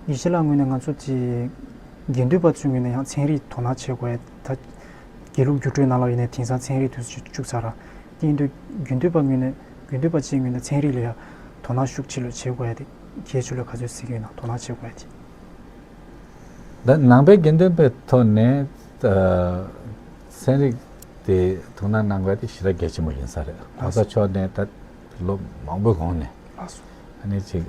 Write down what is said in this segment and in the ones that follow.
ཡེ་ཤེས་ལགས་ངོས་ནས་ང་ཚོ་དེ་དགེ་འདུན་པ་ཚོའི་ངོས་ནས་ཡང་ཚན་རིག་དོ་སྣང་བྱེད་དགོས་ད། དགེ་ལུགས་སྒྱུ་འཕྲུལ་ནང་ལོགས་ཡིན་ནའི་དེང་སང་ཚན་རིག་དུས་ཚོད་བཅུག་ཚར་ར་ཀྱིན་འདུག་དགེ་འདུན་པ་ངོས་ནས་དགེ་འདུན་པ་བཅས་ངོས་ནས་ཚན་རིག་ལ་ཡང་དོ་སྣང་ཤུགས་ཆེ་ལོས་བྱེད་དགོས་ཏེ་ཁྱེད་ཆོས་ལ་ག་ཚོད་ཟིག་ཡོད་ན་དོ་སྣང་བྱེད་དགོས་ཏེ། ད་ནང་པའི་དགེ་འདུན་པའི་ཐོག་ནས་ཚན་རིག་དེ་དོ་སྣང་གནང་དགོས་ཏེ་ཞི་ར་གལ་ཆེན་པོ་ཡིན་ས་རེད་ལྷག་ས་ཕྱོགས་ནས་ད་ལོ་མང་པོའི་གོང་ནས་ལྷག་སོང་ཨ་ནི་ཅིག།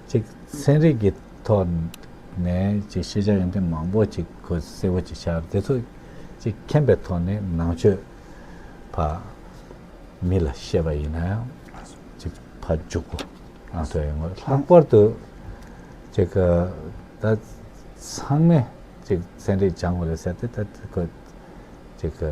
གཅིག་ཚན་རིག་གི་ཐོག་ནས་གཅིག་ཤེས་བྱ་ཡོན་ཏན་མང་པོ་གཅིག་གོ་གསལ་བོ་གཅིག་ཤར་དེ་ཚོ་གཅིག་མཁྱེན་པའི་ཐོག་ནས་ནང་ཆོས་ཕ་མི་ལ་བཤད་པ་ཡིན་ན་ཡང་གཅིག་ཕ་འཇུག་གོ་ཨང་ཐོས་ཡོད་མོད་ལྷག་པར་དུ་གཅིག་གི་ད་ཚང་མས་གཅིག་ཚན་རིག་སྦྱང་དགོས་ལ་ཟེར་ཏེ་ད་གཅིག་གི།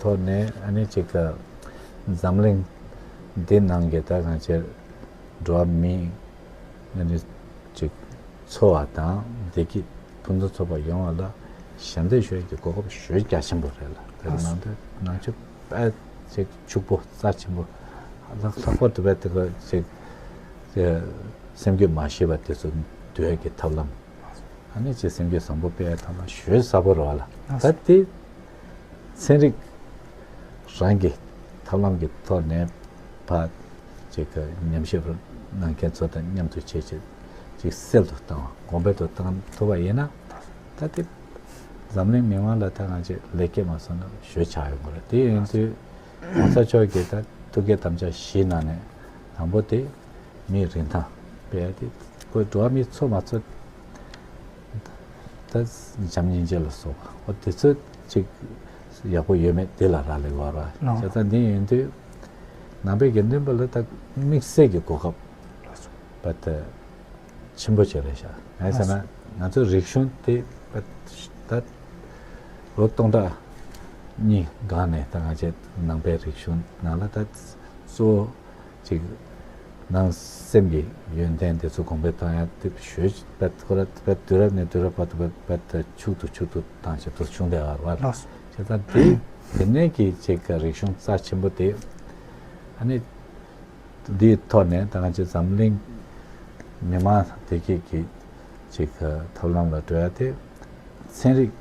ཐོག་ནས་ཨ་ནི་ཅིག་འཛམ་གླིང་འདི་ནང་གི་ད་གང་ཅིར་འགྲོ་བ་མི་ཨ་ནི་ཅིག་འཚོ་བ་དང་བདེ་སྐྱིད་ཕུན་ཚོགས་ཐོབ་པ་ཡོང་བ་ལ་ཞབས་འདེགས་ཞུ་རྒྱུ་གོ་སྐབས་ཞོད་རྒྱ་ཆེན་པོ་རེད་ལ་དེ་ནང་དུ་ནང་ཆོས་དཔལ་ཅིག་ཕྱུག་པོ་རྩ་ཆེན་པོ་ལྷག་ལྷག་པོ་དེ་བས་དེ་གང་ཅིག་སེམས་རྒྱུད་མ་ཤེས་པ་དེ་ཚོ་འདོད་ཀྱི་ཐབས་ལམ་ཨ་ནི་ཅིག་སེམས་རྒྱུད་བཟང་པོ་སྤེལ་བའི་ཐབས་ལམ་ཞོད་ས་པོ་རེད་ལ་ད་དེ། ཚན་རིག་རང་གི་ཐབས་ལམ་གྱི་ཐོག་ནས་བ་ཅིག་གི་ཉམས་ཞིབ་གནང་མཁན་ཚོ་དང་མཉམ་དུ་བྱས་རྗེས་ཅིག་སེལ་དུ་བཏང་བ་གོང་འཕེལ་དུ་བཏང་ཐུབ་པ་ཡིན་ན། ད་ལྟའི་འཛམ་གླིང་མི་དམངས་ལ་ཐད་གང་ཅིག་ལེགས་སྐྱེས་མ་སོང་ན་ཞོད་ཆགས་ཡོང་གི་རེད། དེ་ཡིན་དུས་གོང་ས་མཆོག་གིས་ད་ཐུགས་ཀའི་དམ་བཅའ་བཞིའི་ནང་ནས་དང་པོ་དེ་མིའི་རིན་ཐང་དཔལ་དེ་བཀོད་འགྲོ་བ་མི་ཚོ་མ་ཚོ། ད་བྱམས་སྙིང་རྗེ་ལ་སོགས་པ་དེ་ཚོ་ཅིག་ཡག་པོ་ཡོད་མེད་དེ་ལ་རག་ལས་བར་བ་ཅག་ད་འདི་ཡོང་དུས་ནང་པའི་དགེ་འདུན་པ་ལ་ད་དམིགས་བསལ་གྱི་གོ་སྐབས་པ་ད་ཆེན་པོ་བྱས་རེད་ཤག་ངའི་ས་ན་ང་ཚོ་རིག་གཞུང་དེ་པ་ད་ལོ་སྟོང་ཕྲག་གཉིས་སྒང་ནས་ད་ང་བྱས་ནང་པའི་རིག་གཞུང་ནང་ལ་ད་གཙོ་བོ། ཅིག། ནང་སེམས་ཀྱི་ཡོན་ཏན་དེ་ཚོ་གོང་འཕེལ་གཏོང་ཡང་དེ་བཞོས་པད་ཁོ་ར་པད་དུས་རབས་ནས་དུས་རབས་བར་དུ་པད་དུ་ཕྱུག་དུ་ཕྱུག་དུ་དང་ཞབས་དུར་ཆུང་དེ་བར་ལ་ཅིག་དང་དེ་དེ་ནས་ཀྱི་ཅིག་ག་རིག་གཞུང་རྩ་ཆེན་པོ་དེ་ཨ་ནི་འདིའི་ཐོག་ནས་ད་གང་ཅིག་འཛམ་གླིང་མི་མང་བདེ་སྐྱིད་ཀྱི་ཅིག་ག་ཐབས་ལམ་ལ་བགྲོད་ཡ་དེ་ཚན་རིག་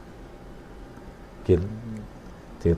གི་དེ།